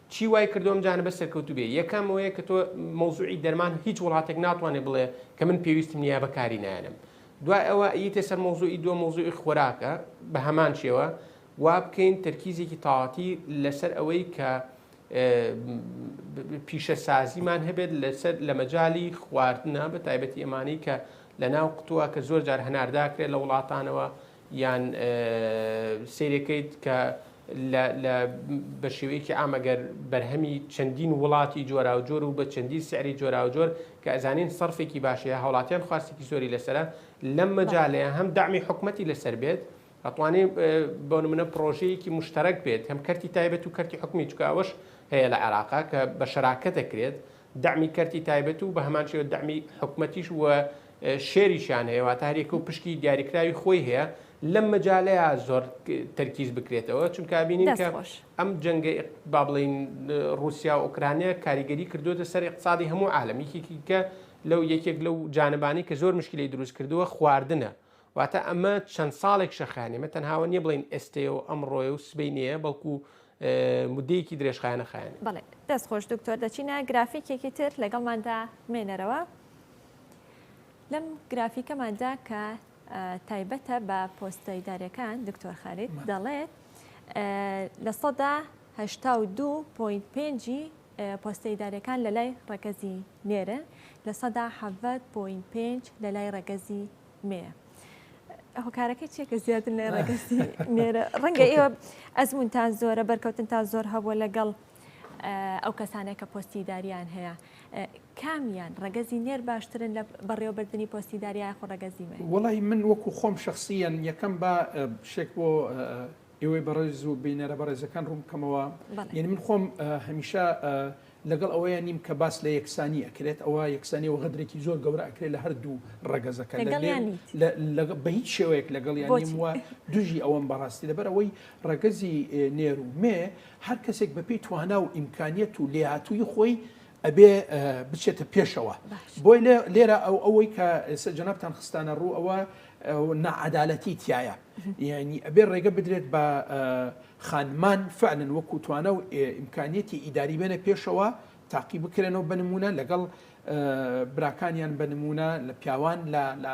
چی وای کردوە ئەم جانبە سەرکەوتو بێ یەکەم ئەوەیە کە تۆ مەوزوعی دەرمان هیچ وڵاتێک ناتوانێ بڵێ کە من پێویستم نیە بەکاری نایەنم دوای ئەوە ئیتە سەر مەوزوعی دووە مەوزوعی خۆراکە بە هەمان شێوە وا بکەین تەرکیزێکی تاواتی لەسەر ئەوەی کە پیشەسازیمان هەبێت لەسەر لە مەجای خواردنە بە تایبەتی ئەمانەی کە لە ناو قوتووە کە زۆر جار هەنارداکرێت لە وڵاتانەوە یان سەیرەکەیت کە لە لە بە شێوەیەکی عام ئەگەر بەرهەمی چەندین وڵاتی جۆراوجۆر و بە چەندین سعری جۆراوجۆر کە ئەزانین سەرفێکی باشەیە هاوڵاتیان خواستێکی زۆری لەسرە لەم مەجالەیە هەم دامی حکوومەتتی لەسەر بێت ئەتوانێ بۆ منە پرۆژەیەکی مشتەرەک بێت هەم کەرتی تایبەت و کەرتی حکومی چکاوەش هەیە لە عێراقا کە بە شراکە دەکرێت دەعمی کەرتی تایبەت و بەهەمان شێوە دەعمی حکومەتیش و شێریشیان هەیە واتە هەرێکە و پشکی دیاریکراوی خۆی هەیە لەم مەجالەیە زۆر تەرکیز بکرێتەوە چونکە بینین کە ئەم جەنگە با بڵین رووسیا و ئۆکرانیا کاریگەری کردوێتە سەر اقتصادی هەموو عالم یەکێکی کە لەو یەکێک لەو جانبانی کە زۆر مشکلی دروست کردووە خواردنە واتە ئەمە چەند ساڵێک شەخایانە ئێمە تەنها ئەوە نییە بڵێین ئێستەیە و ئەمڕۆیە و سبەینێیە بەڵکو مدەیەکی درێژخایەنە خایەنە بڵێ دەست خۆش دکتۆر دەچینە گرافیکێکی تر لەگەڵماندا مێنەرەوە لەم گرافیکەماندا کە تایبەتە بە پۆستەیدارەکان دکتۆر خارید دەڵێت لە سەدا هشتا و دو پوین پێنجی پۆستەیدارەکان لە لای ڕەگەزی نێرن لە سەدا حەڤەت پوین پێنج لە لای ڕەگەزی مێ هۆکارەکەی چیە کە زیاتر لە ڕێگەستی نێرە ڕەنگە ئێوە ئەزمونتان زۆرە بەرکەوتن تا زۆر هەبووە لەگەڵ ئەو کەسانێک کە پۆستی داریان هەیە کامیان ڕگەزی نێر باشترن لە بەڕێوەبردننی پۆستی داریای خۆ ڕگەزیمە وڵی من وەکو خۆم شخصیان یەکەم بە شێک بۆ ئێوەی بەڕێز و بینەرە بەڕێزەکان ڕوون بکەمەوە، یەنی من خۆم هەمیشە لەگەڵ ئەوەیە نیم کە باس لە یەکسانی ئەکرێت، ئەوە یەکسانی و غەدرێکی زۆر گەورە ئەکرێت لە هەردوو ڕەگەزەکە، بە هیچ شێوەیەک لەگەڵیان نیم و دژی ئەوەم بەڕاستی، لەبەر ئەوەی ڕەگەزی نێر و مێ هەر کەسێک بەپێی توانا و ئیمکانیەت و لێهاتوویی خۆی ئەبێ بچێتە پێشەوە بۆی لێرە ئەو ئەوەی کە ئێستا جەنابان خستانە ڕوو ئەوە نەعادالەتی تایە یعنی ئەبێ ڕێگە بدرێت بە خانمان فعلن وەکوتوانە و ئیمکانیەتی ئیداری بێنە پێشەوە تاقی بکرێنەوە بنمونە لەگەڵ براکانیان بە نمونە لە پیاوان لە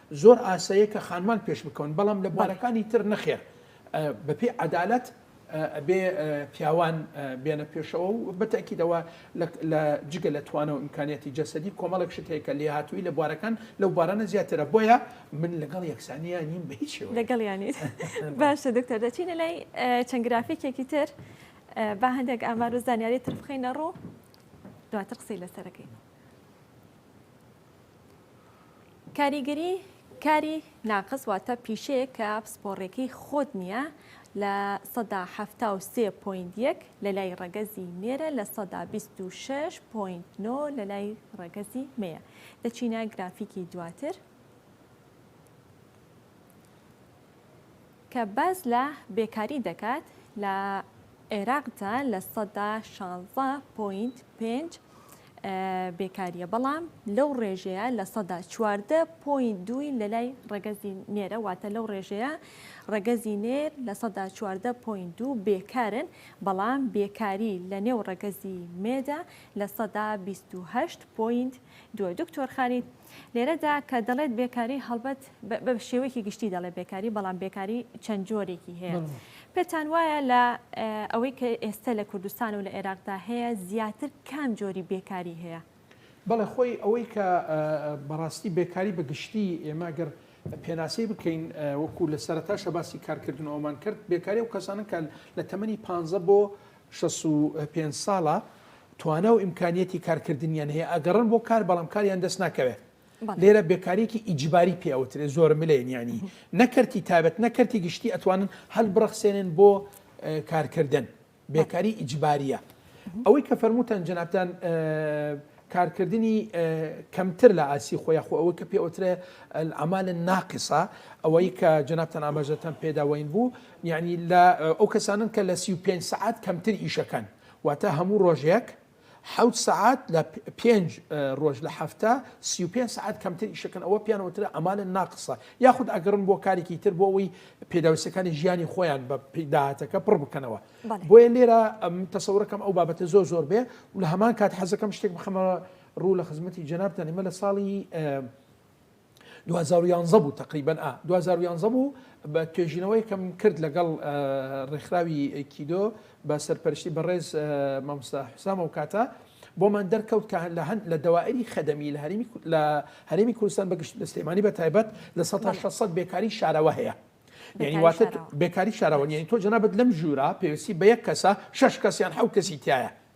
زۆر ئاسایە کە خانمان پێش بکەون بەڵام لە بوارەکانی تر نەخێر بە پێی عەدالەت ئەبێ پیاوان بێنە پێشەوە و بە تەئکید ئەوە لە جگە لە توانە و ئیمکانیەتی جەسەدی کۆمەڵێک شت هەیە کە لێهاتووی لە بوارەکان لەو بارانە زیاترە بۆیە من لەگەڵ یەکسانیان نیم بە هیچ شێوەیەک. لەگەڵ یانی باشە دکتۆر دەچینە لای چەند گرافیکێکی تر با هەندێک ئامار و زانیاری تر بخەینە ڕوو دواتر قسەی لەسەرەکەین. کاریگەری کاری ناقس واتە پیشەیەک کە پسپۆڕیەکەی خۆت نییە لە سەدا هەفتا و سێ پوین یەک لە لای ڕەگەزی مێرە لە سەدا بیست و شش پوین نۆ لە لای ڕەگەزی مەیە لە چینە گرافیکی دواتر کە باس لە بێکاری دەکات لە عێراقدا لە سەدا شانزە پۆینت پێنج بێکاریە بەڵام لەو ڕێژەیە لە سەدا چواردە پۆین دووی لە لای ڕەگەزی نێرە واتە لەو ڕێژەیە ڕەگەزی نێر لە سەدا چواردە پۆین دوو بێکارن بەڵام بێکاری لە نێو ڕەگەزی مێدا لە سەدا بیست و هەشت پۆینت دووە دکتۆر خالید لێرەدا کە دەڵێت بێکاری هەڵبەت بە شێوەیەکی گشتی دەڵێت بێکاری بەڵام بێکاری چەند جۆرێکی هەیە پێتان وایە لە ئەوەی کە ئێستا لە کوردستان و لە عێراقدا هەیە زیاتر کام جۆری بێکاری هەیە؟ بەڵێ خۆی ئەوەی کە بەڕاستی بێکاری بە گشتی ئێمە گەر پێناسەی بکەین وەکو لە سەرتاشە باسی کارکردنەوەمان کرد بێکاری و کەسانن کە لە تەمەنی پ بۆ شەست و پێنج ساڵە، توانا و ئیمکانیەتی کارکردنیان هەیە، ئەگەڕن بۆ کار بەڵام کاریان دەست ناکەوێت. لێرە بێکاریەکی ئیجباری پێ ئەوترێت زۆر ملێن یانی نە کەرتی تایبەت نە کەرتی گشتی ئەتوانن هەلبڕەخسێنن بۆ کارکردن، بێکاری ئیجباریە. ئەوەی کە فەرمووتان جەنابتان کارکردنی کەمتر لە ئاستی خۆ یاخۆ ئەوەی کە پێ ئەوترێ العمالە ناقصە ئەوەی کە جەنابتان ئاماژەتان پێداوەین بوو، یانی لە ئەو کەسانەن کە لە سی و پێنج سەعات کەمتر ئیشەکەن واتە هەموو ڕۆژێک حەوت سەعات لە پێنج ڕۆژ لە هەفتە سی و پێنج سەعات کەمتر ئیشەکەن ئەوە پێیان وترا ئەمالن ناقسە یاخود ئەگەڕن بۆ کارێکی تر بۆ ئەوەی پێداویستەکانی ژیانی خۆیان بە داهاتەکە پڕ بکەنەوە بەڵێ بۆیە لێرە ئەم تەسەورەکەم ئەو بابەتە زۆر زۆر بێ و لە هەمان کات حەزەکەم شتێک بخەمە ڕوو لە خزمەتی جەنابتان ئێمە لە ساڵی دوو هەزار و یانزە بوو تەقریبەن ئا دوو هەزار و یانزە بوو بە توێژینەوەیەکم کرد لەگەڵ ڕێکخراوی ئەیکیدۆ بە سەرپەرشتی بەڕێز مامۆستا حسام و کاتە بۆمان دەرکەوت کە لە هەند لە دەوائری خەدەمی لە هەرمی لە هەرێمی کوردستان بەگشت لە سلێمانی بە تایبەت لە سە بەڵێ. 600 بێکاری شارەوە هەیە یعنی بێکاری واتە شارەوە بێکاری شارەوە باشە یعنی تۆ جەنابت لەم ژوورە پێویستی بە یەک کەسە شەش کەس یان حەو کەسی تایە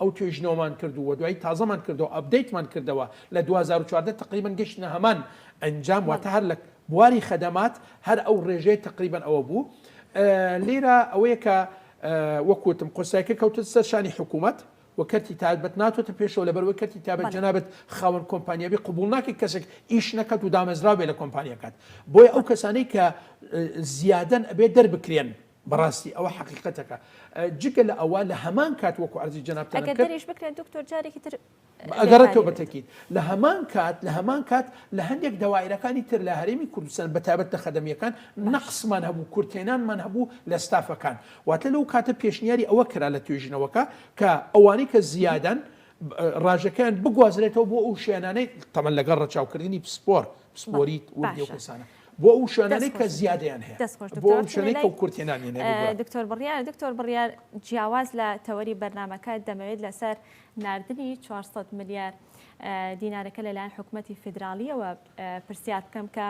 ئەو توێژینەوەمان کرد و دوایی تازەمان کردەوە ئەپدەیتمان کردەوە لە دوو هەزار و چواردە تەقریبەن گەشتینە هەمان ئەنجام واتە هەر لە بواری خەدەمات هەر ئەو ڕێژەیە تەقریبەن ئەوە بوو لێرە ئەوەیە کە وەک وتم قورسایەکە کەوتە سەر شانی حکوومەت و کەرتی تایبەت ناتۆتە پێشەوە لە بەرەوەی کەرتی تابەت جەنابەت خاوەن کۆمپانیابی قوبول ناکەی کەسێک ئیش نەکات و دامەزراوێ لە کۆمپانیەکەت بۆیە ئەو کەسانەی کە زیادەن ئەبێ دەربکرێن بەڕاستی ئەوە حەقیقەتەکە جگە لە ئەوە لە هەمان کات وەکو عەرزی جەنابتان ئەگەر کرد دەریش بکرێت دکتۆر جارێکی تر ئەگەر لێکاری بێت. تۆبەتەکیت لە هەمان کات لە هەمان کات لە هەندێک دەوایرەکانی تر لە هەرێمی کوردستان بە تایبەت لە خەدەمییەکان نەقصمان هەبوو کورتهێنانمان هەبوو لە ستافەکان واتە لەو کاتە پێشنیاری ئەوە کرا لە توێژینەوەکە کە ئەوانەی کە زیادەن ڕاژەکەیان بگوازرێتەوە بۆ ئەو شوێنانەی تەبەن لەگەڵ ڕەچاوکردنی پسپۆر پسپۆریت وردی ئەو باشە. کەسانە بۆ ئەو شوێنانەی کە زیادەیان هەیە دەست خۆش بۆ دکتۆر ئەو شوێنەی کە کورتێ نامێنێ بگوڕە. چونێلەی دکتۆر بڕیار دکتۆر بڕیار جیاواز لە تەوەری بەرنامەکە دەمەوێت لەسەر ناردنی چوار سەد ملیار دینارەکە لەلایەن حکومەتی فیدراڵیەوە پرسیار بکەم کە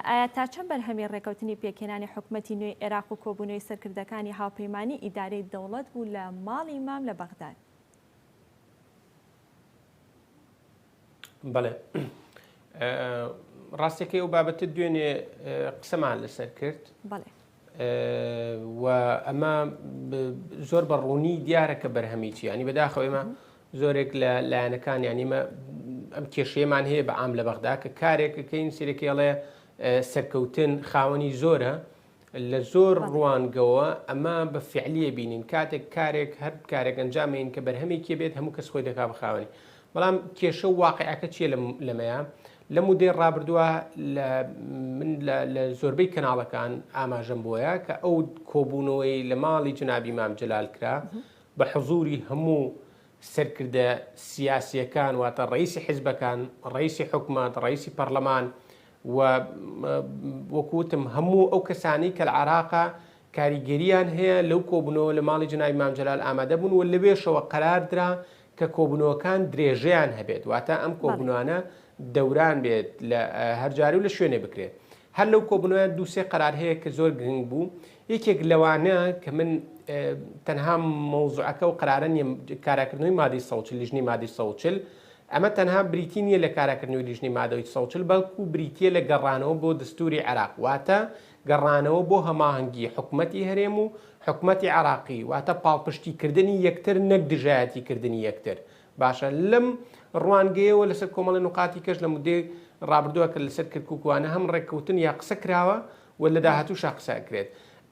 ئایا تا چەند بەرهەمی ڕێکەوتنی پێکهێنانی حکومەتی نوێی عێراق و کۆبوونەوەی سەرکردەکانی هاوپەیمانی ئیدارەی دەوڵەت بوو لە ماڵی مام لە بەغداد بەڵێ ڕاستەکەی ئەو بابەتە دوێنێ قسەمان لەسەر کرد و ئەمە زۆر بە ڕوونی دیارە کە بەرهەمیی ینی بەداخەوەێمە زۆرێک لە لایەنەکان یانیمە ئەم کێشەیەمان هەیە بە ئام لە بەغدا کە کارێکەکەین سیرەکەڵێ سەرکەوتن خاوەنی زۆرە لە زۆر ڕوانگەوە ئەمە بە فعلیە بینین کاتێک کارێک هەر کارێک ئەنجامین کە بەرهەمێکی بێت هەموو کەس خۆی دەکا بخاوەنی بەڵام کێشە و واقعەکە چیە لەمەیە لە مودێ ڕابردووە من لە زۆربەی کەناڵەکان ئاماژەم بۆیە کە ئەو کۆبوونەوەی لە ماڵی جنابی مام جلال کرا بە حزوری هەموو سەرکردە سیاسییەکان واتە ڕەییسی حیزبەکان، ڕەییسی حکومەت، ڕەییسی پەڕلەمان و وەکو وتم هەموو ئەو کەسانەی کە لە عێراقە کاریگەرییان هەیە لەو کۆبوونەوە لە ماڵی جەنابی مام جەلال ئامادە بوون و لەوێشەوە قەرار درا کە کۆبوونەوەکان درێژەیان هەبێت واتە ئەم بەڵێ کۆبوونەوانە دەوران بێت لە هەر جارێ و لە شوێنێ بکرێت. هەر لەو کۆبوونەوەیە دوو سێ قەرار هەیە کە زۆر گرنگ بوو یەکێک لەوانە کە من تەنها مەوزوعەکە و قەرارە نیە کاراکردنەوەی مادەی سەوچل لیژنی مادەی سەوچل ئەمە تەنها بریتی نییە لە کاراکردنەوەی لیژنی مادەوەی سەوچل بەڵکو بریتە لە گەڕانەوە بۆ دەستوری عێراق واتە گەڕانەوە بۆ هەماهەنگی حکومەتی هەرێم و حکومەتی عراقی واتە پاڵپشتیکردنی یەکتر نەک دژایەتیکردنی یەکتر باشە لەم ڕوانگەیەوە لەسەر کۆمەڵی نقاتی کەش لە مدەی ڕابردووە کە لەسەر کرکوکوانە هەم ڕێککەوتن یا قسە کراوە و لە داهاتووشا قسە کرێت.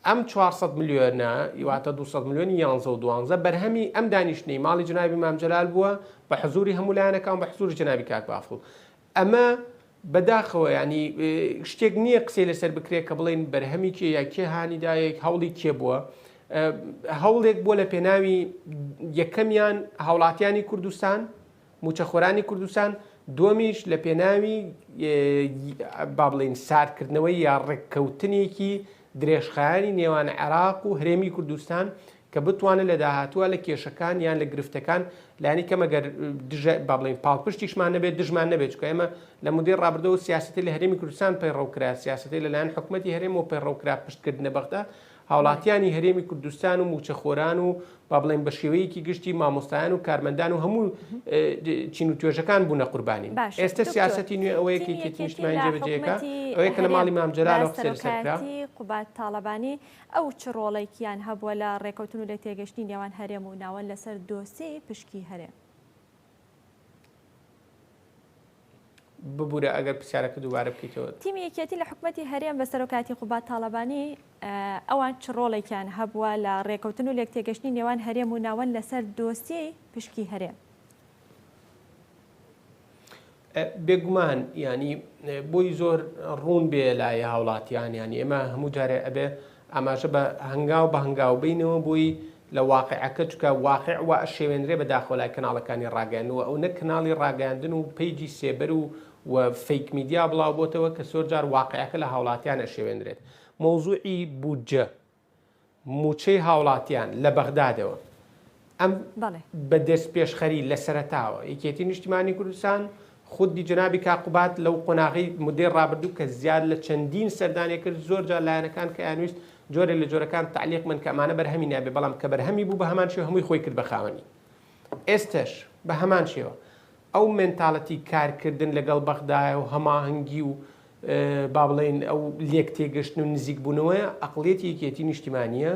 ئەم 400 ملیۆنە یواتە 200 ملیۆنی یانزە و دوانزە بەرهەمی ئەم دانیشتنەی ماڵی جنابی مامجلال بووە بە حزوری هەمولایەنەکان بە حزوری جنابی کاک بافڵ ئەمە بە داخەوە یانی شتێک نییە قسەی لەسەر بکرێت کە بڵین بەرهەمی کێ یا کێ هانیدایەک هەوڵی کێ بووە هەوڵێک بووە لە پێناوی یەکەمیان هاوڵاتیانی کوردستان موچەخۆرانی کوردستان دومیش لە پێناوی با بڵین ساردکردنەوەی یا ڕێککەوتنێکی درێژخایانی نێوان عێراق و هرێمی کوردستان کە بتوانن لە داهاتووە لە کێشەکان یان لە گرفتەکان لانی کەم ئەگەر دژە با بڵێین پاڵپشتیشمان نەبێت دژمان نەبێت چونکە ئێمە لە مودەی ڕابردوو و سیاسەتی لە هەرێمی کوردستان پەیڕەو کرا سیاسەتی لەلایەن حکوومەتی هەرێمەوە پەیڕەو کرا پشتکردنە بەغدا هاوڵاتیانی هەرێمی کوردستان و موچەخۆران و با بڵێن بە شێوەیەکی گشتی مامۆستایان و کارمەندان و هەموو چین و توێژەکان بوونە قوربانی باش ئێستا دکتۆر، سیاسەتی نوێ ئەوەیە تیمی کێتی یەکێتی نیشتمانی لە جێبەجێکە حکومەتی ئەوەیە کە لە هەرێم ماڵی مامجەلالەوە هەرێم سەر سەر کرا سەرۆکایەتی قوباد تاڵەبانی ئەو چ ڕۆڵێکیان هەبووە لە ڕێکەوتن و لێکتێگەشتنی نێوان هەرێم و ناوەند لەسەر دۆسێی پشکی هەرێم؟ ببورە ئەگەر پرسیارەکە دووبارە بکەیتەوە. تیمی یەکێتی لە حکومەتی هەرێم بە سەرۆکایەتی قوباد تاڵەبانی، ئەوان چ ڕۆڵێکیان هەبووە لە ڕێکەوتن و لێکتێگەشتنی نێوان هەرێم و ناوەند لەسەر دۆسیەی پشکی هەرێم؟ بێگومان ینی بۆی زۆر ڕوون بێ لای هاوڵاتیان ینی ئێمە هەموو جارێ ئەبێ ئاماژە بە هەنگاو بە هەنگاو بینەوە بۆی لە واقعەکە چکە واقع و شێوێنرێ بە داخۆلای کەناڵەکانی ڕاگەنەوە ئەو نە کەناڵی ڕاگەاندن و پیجی سێبەر و و فیک میدیا بڵاو بۆتەوە کە سۆرجار واقعەکە لە هاوڵاتیانە شێوێنرێت مۆزوعی بودجە مووچەی هاوڵاتیان لە بەغدادەوە ئەم بە دەستپێشخەری لە سەرەتاوە یەکێتی نیشتیمانی کوردستان خودی جەنابی کاک قوباد لەو قۆناغی مدەی ڕابردوو کە زیاد لە چەندین سەردانێ کرد زۆر جار لایەنەکان کە یانویست جۆرێ لە جۆرەکان تعلیق من کە ئەمانە بەرهەمی نابێ بەڵام کە بەرهەمی بوو بە هەمان شێوە هەمووی خۆی کرد بە خاوەنی ئێستش بە هەمان شێوە ئەو مێنتاڵەتی کارکردن لەگەڵ بەغدایە و هەماهەنگی و با بڵێین ئەو لێکتێگەشتن و نزیکبوونەوەی عەقڵیەتی یەکێتی نیشتیمانییە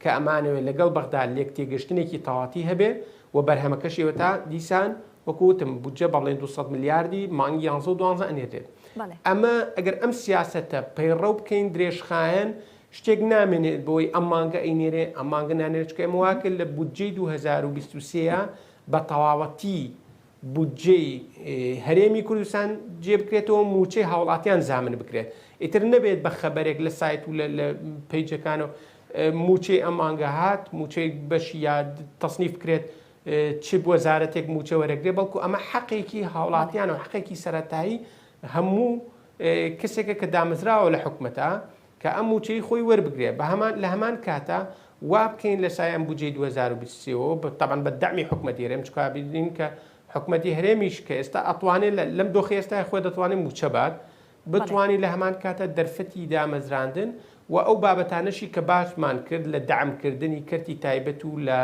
کە ئەمانەوێت لەگەڵ بەغدا لێکتێگەشتنێکی تەواتی هەبێ و بەرهەمەکەشی ئێوەتا دیسان وەکو وتم بودجە با بڵێین دوو سەد ملیاردی مانگی یانزە و دوانزە ئەنێرێت. ئەمە ئەگەر ئەم سیاسەتە پەیڕەو بکەین درێژخایەن شتێک نامێنێت بۆی ئەم مانگە ئەینێرێ ئەم مانگە نانێرێ چونکە ئێمە وا کرد لە بودجەی دوو هەزار و بیست و سێ بە تەواوەتی بودجەی هەرێمی کوردستان جێ بکرێتەوە موچەی هاوڵاتیان زامن بکرێت ئیتر نەبێت بە خەبەرێک لە سایت و لە پەیجەکانەوە موچەی ئەم مانگە هات موچەی بەشی یا تەسنیف بکرێت چ وەزارەتێک موچە وەرەگرێ بەڵکو ئەمە حەقێکی هاوڵاتیان و حقێکی سەرەتایی هەموو کەسێکە کە دامەزراوە لە حکومەتە کە ئەم مووچەی خۆی وەربگرێ بەهەمان لەهەمان کاتا وابکەین لەسای ئەم بودجەی دوو هەزار و بیست و سێ وەوە تەبعەن بە دەعمی حکومەتی هەرێم چکە ئابیدرین کە حکومەتی هەرێمیش کە ئێستا ئەتوانێ لە لەم دۆخی ئێستای خۆی دەتوانێ مووچە بات بەڵێ بتوانی لەهەمان کاتا دەرفەتی دامەزراندن و ئەو بابەتانەشی کە باسمان کرد لە دەعم کردنی کەرتی تایبەت و لە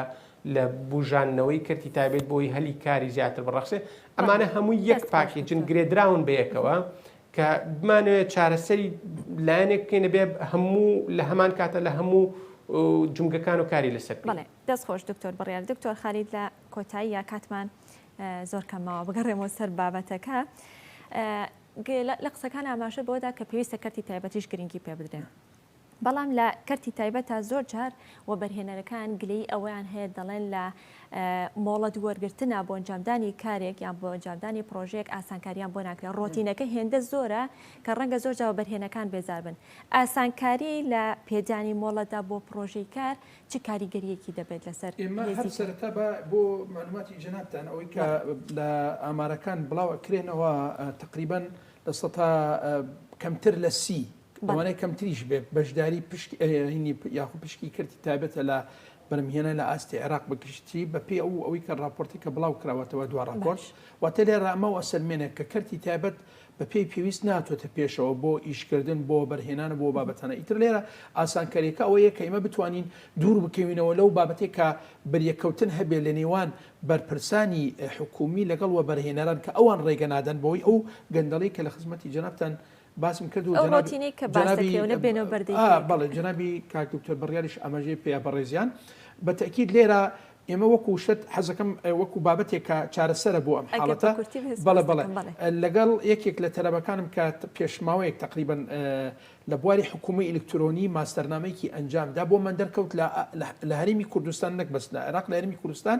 لە بووژاندنەوەی کەرتی تایبەت بۆی هەلی کاری زیاتر بڕەخسێ بەڵێ ئەمانە هەمووی یەک دەست خۆش پاکێجن دکتۆر گرێدراون بەیەکەوە کە بمانەوێت چارەسەری لایەنێک بکەینە بێ هەموو لە هەمان کاتە لە هەموو جومگەکان و کاری لەسەر بکەین. بەڵێ دەست خۆش دکتۆر بڕیار. دکتۆر خالید لە کۆتاییا کاتمان زۆر کەم ماوە بگەڕێمەوە سەر بابەتەکە لە قسەکان ئاماژە بەوەدا کە پێویستە کەرتی تایبەتیش گرنگی پێ بدرێن. بەڵام لە کەرتی تایبەتا زۆر جار وەبەرهێنەرەکان گلەیی ئەوەیان هەیە دەڵێن لە مۆڵەت وەرگرتنا بۆ ئەنجامدانی کارێک یان بۆ ئەنجامدانی پرۆژێک ئاسانکاریان بۆ ناکرێت ڕۆتینەکە هێندە زۆرە کە ڕەنگە زۆر جاوە بەرهێنەکان بێزار بن ئاسانکاری لە پێدانی مۆڵەتدا بۆ پرۆژەی کار چ کاریگەریەکی دەبێت لەسەر ئێمە هەر سەرەتا با بۆ مەعلوماتی جەنابتان ئەوەی کە لە ئامارەکان بڵاو ئەکرێنەوە تقریبا لە سەتا کەمتر لە سی لەوانەیە کەمتریش بێت، بەشداری پشکی ئەرێنی یاخود پشکی کەرتی تایبەتە لە بەرهەمهێنان لە ئاستی عێراق بە گشتی، بەپێی ئەو ئەوەی کە ڕاپۆرتی کە بڵاو کراوەتەوە دوا ڕاپۆرت. واتە لێرە ئەمە واسەلمێنێ کە کەرتی تایبەت بەپێی پێویست ناتۆتە پێشەوە بۆ ئیشکردن، بۆ وەبەرهێنان و بۆ بابەتانە. ئیتر لێرە ئاسانکارییەکە ئەوەیە کە ئێمە بتوانین دوور بکەوینەوە لەو بابەتەی کە بەریەککەوتن هەبێت لە نێوان بەرپرسانی حکوومی لەگەڵ وەبەرهێنەران کە ئەوان ڕێگە نادەن بەوەی ئەو گەندەڵی کە لە خزمەتی جەنابتان باسم کرد و جەنابی جەنابی بەڵێ جەنابی کاک دکتۆر بڕیاریش ئاماژەی پێیە بەڕێزیان بە تەئکید لێرە ئێمە وەکو شت حەزەکەم وەکو بابەتێک کە چارەسەرە بۆ ئەم حاڵەتە بەڵێ بەڵێ لەگەڵ یەکێک لە تەلەبەکانم کە پێشماوەیەک تقریبن لە بواری حکومی ئەلکترۆنی ماستەرنامەیەکی ئەنجامدا بۆ من دەرکەوت لە هەرمی کوردستان نەک بەس لە عێراق لە هەرمی کوردستان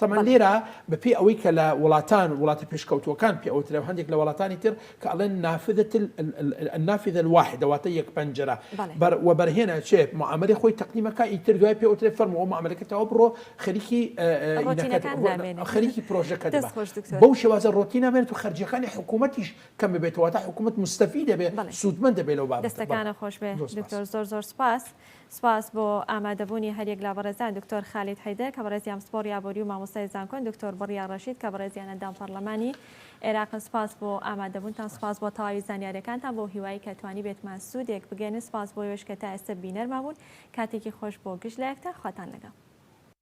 تەبعەن لێرە بە پێی ئەوەی کە لە وڵاتان وڵاتە پێشکەوتووەکان پێ ئەوترێ و هەندێک لە وڵاتانی تر کە ئەڵێن نافذە النافذە الواحدە واتە یەک پەنجەرە بەر وەبەرهێنە چێ معامەلەی خۆی تەقدیم ئەکا ئیتر دوای پێ ئەوترێ فەرمووە معامەلەکە تەواو بڕۆ خەریکی خەریکی پرۆژەکە دەبە بەو شێوازە ڕۆتین نامێنێت و خەرجییەکانی حکوومەتیش کەم ببێت واتە حکوومەت موستەفید دەبێت سوودمەند دەبێت لەو بابەتە دەستەکانت خۆش بێت دکتۆر زۆر زۆر سوپاس. سپاس بۆ ئامادەبوونی هەریەک لە بەڕێزان دکتۆر خالید حیدر کە بەڕێزی ئەمسپۆڕی ئابووری و مامۆستای زانکۆن دکتۆر بڕیار ڕەشید کە بەڕێزیان ئەندام پەڕلەمانی ئێراقن سپاس بۆ ئامادەبوونتان سپاس بۆ تەواوی زانیارەکانتان بۆ هیوایی کە توانیبێتمان سوودێک بگەێنن سپاس بۆ ئێوەش کە تا ئێستە بینەرمان بوون کاتێکی خۆش بۆ گشت لایەکتان خواتان لەگەڵ.